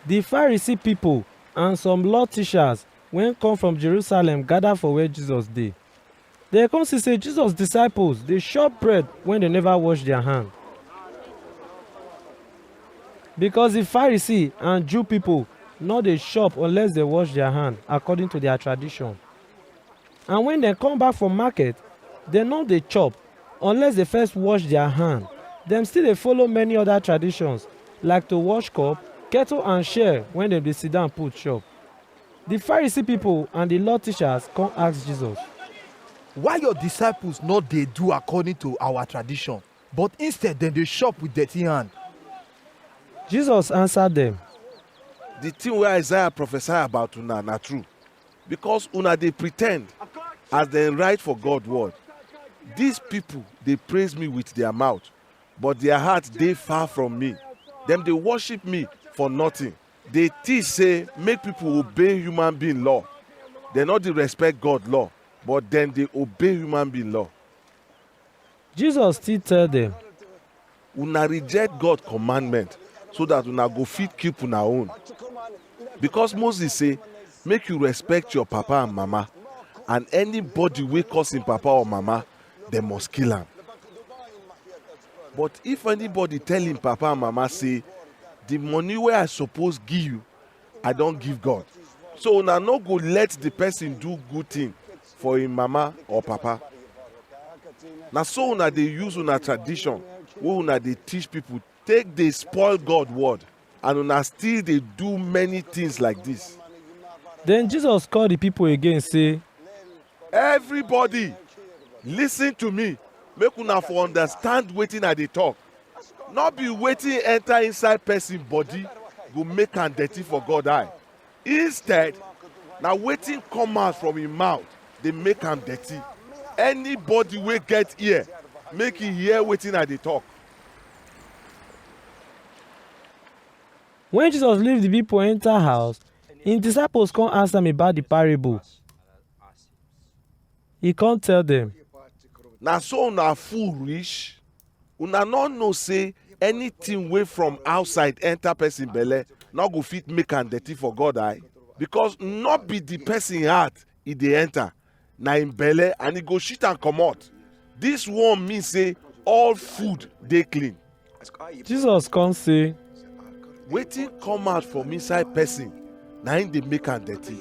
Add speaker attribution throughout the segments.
Speaker 1: Di Pharisee pipo and some law teachers wey come from Jerusalem gather for where Jesus dey. Dem come see say Jesus disciples dey chop bread wey dem never wash their hand. Because di Pharisee and Jew pipo no dey chop unless dem wash their hand according to their tradition. And wen dem come back from market, dem nor dey chop unless dey first wash dia hand. Dem still dey follow many oda traditions like to wash cup, kettle and share wen dem dey sidan put chop. Di Pharisee pipo and di Law teachers come ask Jesus. Why your disciples nor dey do according to our tradition, but instead dem dey chop with dirty hand? Jesus ansa dem. Di tin wey Isaiah prophesy about una na true. Because una dey pretend as dem write for God word. These people dey praise me with their mouth, but their heart dey far from me. Dem dey worship me for nothing. Dey teach say make people obey human being law. Dem no dey respect God law, but dem dey obey human being law. Jesus still tell dem. Una reject God commandment so that una go fit keep una own. Because Moses say, make you respect your papa and mama, and anybody wey curse him papa or mama, dem must kill am. But if anybody tell him papa and mama say, the money wey I suppose give you, I don give God. So una no go let the person do good thing for im mama or papa. Na so una dey use una tradition wey una dey teach people take dey spoil God word and una still dey do many things like this. Then Jesus call the people again say, Everybody listen to me make una for understand wetin I dey talk. no be wetin enter inside person body go make am dirty for god eye instead na wetin come out from im mouth dey make am dirty anybody wey get ear make e hear wetin i dey talk When Jesus leave the people enter house, his disciples come ask am about the parable. He come tell them, na so una full reach una no know say anything wey from outside enter person belle no go fit make am dirty for god eye because no be the person heart e dey enter na im belle and e go shit am comot this one mean say all food dey clean jesus come say wetin come out from inside person na im dey make am dirty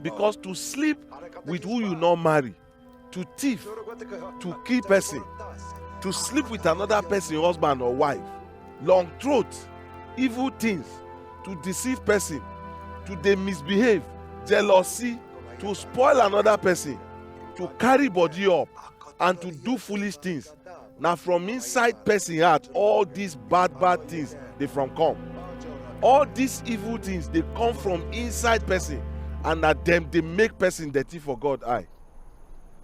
Speaker 1: because to sleep with who you no marry to thief to kill person to sleep with another person husband or wife long throat evil things to deceive person to dey misbehave jealousy to spoil another person to carry body up and to do foolish things na from inside person heart all these bad bad things dey from come all these evil things dey come from inside person and na dem dey make person dirty for god eye